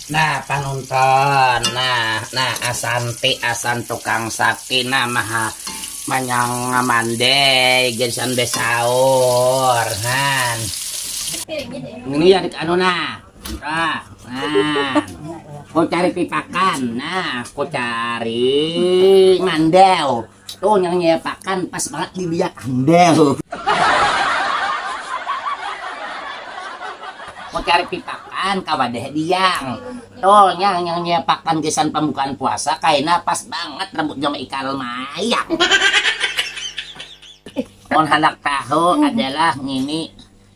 Nah panonton, nah nah asanti asan tukang sapi nah maha manyang mandai gerisan besaur han. Ini ya anu nah, nah, nah. Kau cari pipakan, nah kau cari mandau. Itu nang nyiapakan pas bangat di biak amdel. Mun karik pipakan kawa deh diang. Itu nyang nyang nyiapakan gasan pambukaan puasa kaina pas bangat rambut jam ikal mayak. Mun handak tahu adalah ngini.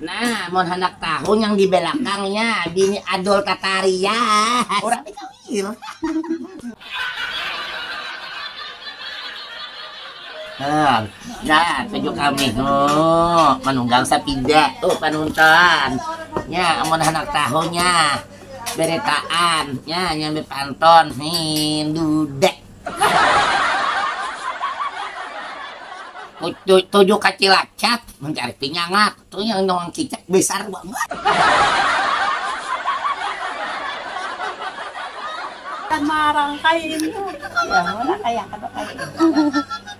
Nah, mun handak tahu nyang di belakang nya bini Adul Tataria. Urang di Kawir. Nah, dah tuju kami huh manunggang sapida uh panunton. Nya amun handak tahu nya beretaan nya nya bepanton hin dude. Tujuh kacilacak mencari pinyangat. Tuh yang doang cicak besar banget. Kan marangkai intu. Yang mana kaya kada kaya.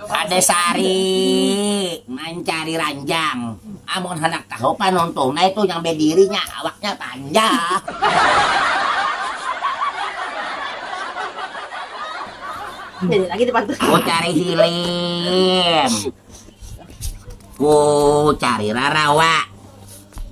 Kada sari mancari ranjang, amun handak tahu panuntung naitu yang bediri nya awaknya panjang. Ku cari hilim, ku cari rarawa.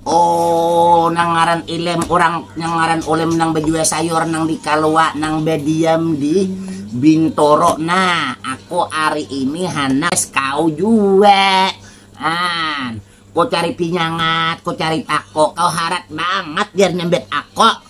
Oh nang ngaran ilem urang nang ngaran ulem nang bajual sayur nang di kalua nang badiam di bintoro nah aku ari ini handak kau jua an ku cari pinyangat ku cari tako kau harat bangat jar nyambit ako.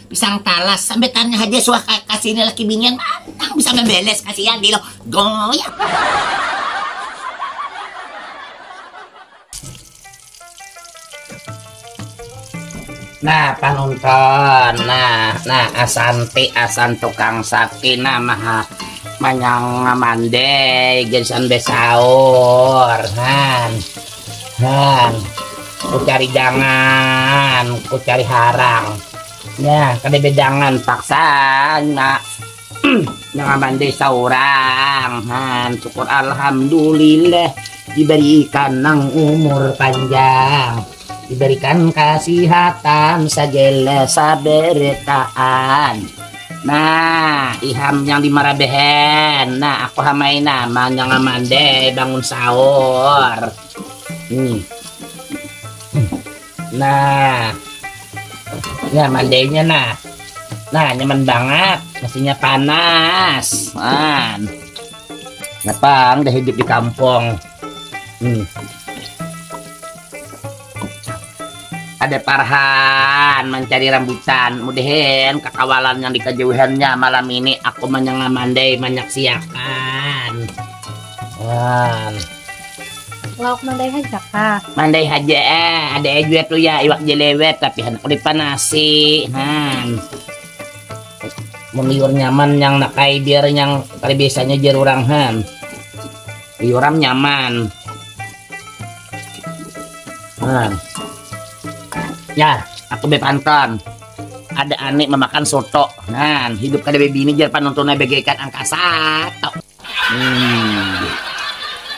Pisang talas sampai tanya haja suah kasih ini laki binian mantang bisa membeles kasihan di lo goyang. Nah panonton, nah nah asanti asan tukang sapi nah maha manyang mandai garisan besaur, nah. Nah, ku cari jangan, ku cari harang. Nah, kada bedangan paksa nak nang aman desa orang. Han, syukur alhamdulillah diberikan nang umur panjang. Diberikan kesehatan segala sabertaan. Nah, iham yang di marabehen. Nah, aku hamai nah, manyang aman deh bangun sahur. Hmm. Nah, ya mandainya nah. Nah, nyaman banget. Nasinya panas. Man. Napang dah hidup di kampung. Hmm. Ada parhan mancari rambutan, mudahan kakawalan yang di kajauhannya malam ini aku manyanga mandai manyaksiakan. Wan. Lauk mandai haja kah? Mandai haja eh, ada eh jua tu ya iwak jelewet tapi handak dipanasi. Han. Mun liur nyaman yang nakai biar yang kali biasanya jar urang han. Liuram nyaman. Nah. Ya, aku bepanton. Ada anik memakan soto. Nah, hidup kada bebini jar panontonnya bagaikan angka satu. Hmm.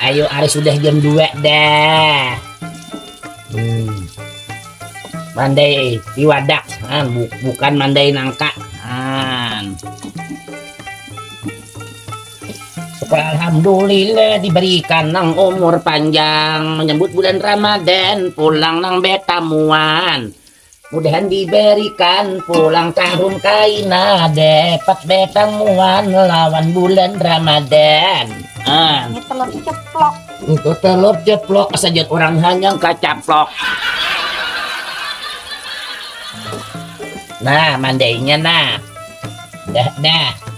Ayo, hari sudah jam dua dah. Hmm. Mandai iwadak, nah, bukan mandai nangka. Nah. Syukur alhamdulillah diberikan nang umur panjang menyambut bulan Ramadan pulang nang betamuan. Mudahan diberikan pulang tahun kaina dapat betamuan lawan bulan Ramadan. Ah. Ini telur ceplok. Itu telur ceplok saja orang hanyang kacaplok. Nah, mandainya nah. Dah, dah.